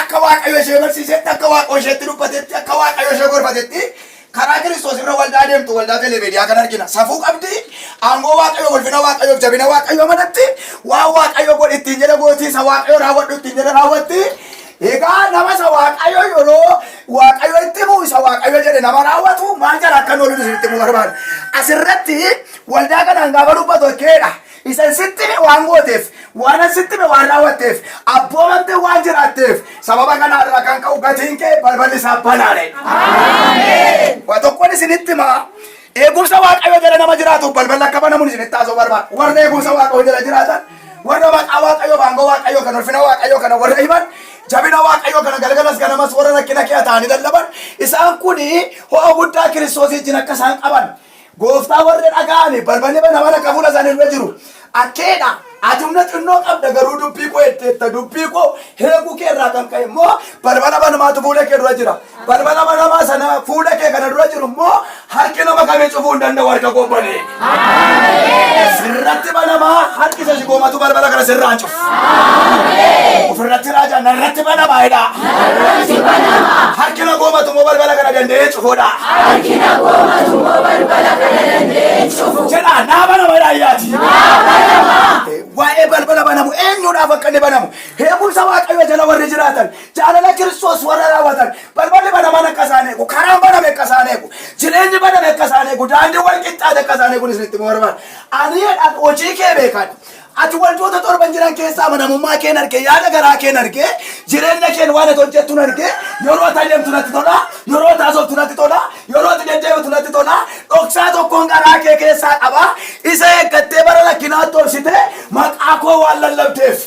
Akka Waaqayyo ishee barsiisetti, akka Waaqoo isheetti dubbatetti, akka Waaqayyo ishee gorfatetti karaa Kiristoos irra waldaa deemtu waldaa telemeediyaa kan argina. Safuu qabdi, aangoo Waaqayyo, ulfina Waaqayyo, jabina Waaqayyo manatti waan Waaqayyo godhi ittiin jedhe gooti, isa Waaqayyo raawwadhu ittiin jedhe raawwatti. Egaa nama isa Waaqayyo yeroo Waaqayyo itti himu isa Waaqayyo jedhe nama raawwatu maal jala akka hin oolin isinitti himuu barbaada. Asirratti waldaa kanaan gaafa dubbatu keedha. Isan sitti hime waan gooteef, waanan sitti hime waan raawwatteef, abboomamtee waan jiraatteef, sababa kanaa irraa kan ka'u gatiin kee balballi isaa banaadhe. Waa tokkoon isinitti himaa. Eegumsa Waaqayyoo jala nama jiraatuuf balballi akka banamuun isinitti haasoo barbaada. Warra eegumsa Waaqayyoo jala jiraatan, warra maqaa Waaqayyoo, baangoo Waaqayyoo kan ulfina Waaqayyoo kana warra himan, jabina Waaqayyoo kana galgalas ganamas warra rakkina kee ta'anii lallaban, isaan kun ho'a guddaa Kiristoosii wajjin akka isaan qaban Gooftaa warra dhaga'aniif balballi banamaan akka fuula isaanii dura jiru arkeedha. Ati humna xinnoo qabda garuu dubbii koo eegdeetta. Dubbii koo eeguu kee irraa kan ka'e immoo balbala banamaatu fuula kee dura jira. Balbala banamaa sana fuula kee kana dura jiru immoo harki nama kamii cufuu hin danda'u harka koo banee. Sirratti banamaa harki isa si goomatu balbala kana sirraan cufa. Ofirratti raajaa narratti banama jedha. Harki na goomatu immoo balbala kana danda'ee cufuudha. Jedha naa banama jedha ayyaati. Eh, Waa'ee balbala banamu eenyuudhaaf akka inni banamu heekumsa waaqayyo jala warri jiraatan jaalala kiristoos warra raawwatan balballi banamaan akka isaan eegu karaan baname akka isaan eegu jireenyi baname akka isaan eegu daandii wal qixxaate akka isaan eeguun isinitti himuu barbaada. Ani jedhaan hojii kee beekan Ati waldoota torban jiran keessa amanamummaa keen arge, yaada garaa keen arge, jireenya keen waan ati hojjettun arge, yeroo ati adeemtu natti tola, yeroo ati haasoftu natti tola, yeroo ati deddeebitu natti tola, dhoksaa tokkoon garaa kee keessaa qaba, isa eeggattee bara rakkinaatti obsitee maqaa koo waan lallabdeef.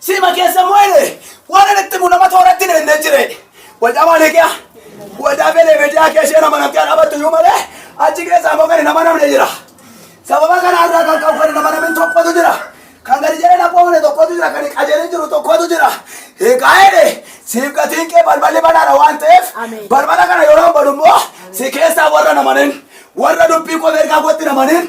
Sima keessa moo'ee waan inni itti mul'ama tooratti hin eegne jire. Wajaa malee kee wajaa beelee miidiyaa kee ishee nama namtee dhaabatu iyyuu malee achi keessaa immoo kan nama namne jira. Sababa kanaa irraa kan qabu kan nama namni tokkotu jira. Kan gadi jedhee nama oole tokkotu jira kan qajeelee jiru tokkotu jira. Egaa jedhe siif gatiin kee balballi banaadha waan ta'eef balbala kana yeroo badu immoo si keessaa warra namanin warra dubbii koo beekaa kootti namanin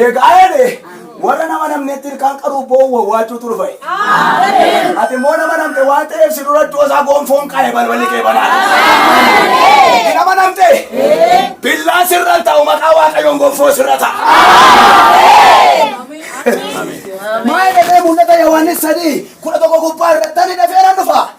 Eegaa jedhe warra nama namneetti ilkaan qaruuf boo'u wawwaachuutu dhufa. Ati immoo nama namte waan ta'eef si dura iddoo isaa goonfoon qaale balballi kee banaa. Ati nama namte billaa sirra ta'u maqaa waaqayyoon goonfoo sirra ta'a. Maal jedhee mul'ata Yohaannis sadii kudha tokko gubbaa irratti ani dafeera dhufa.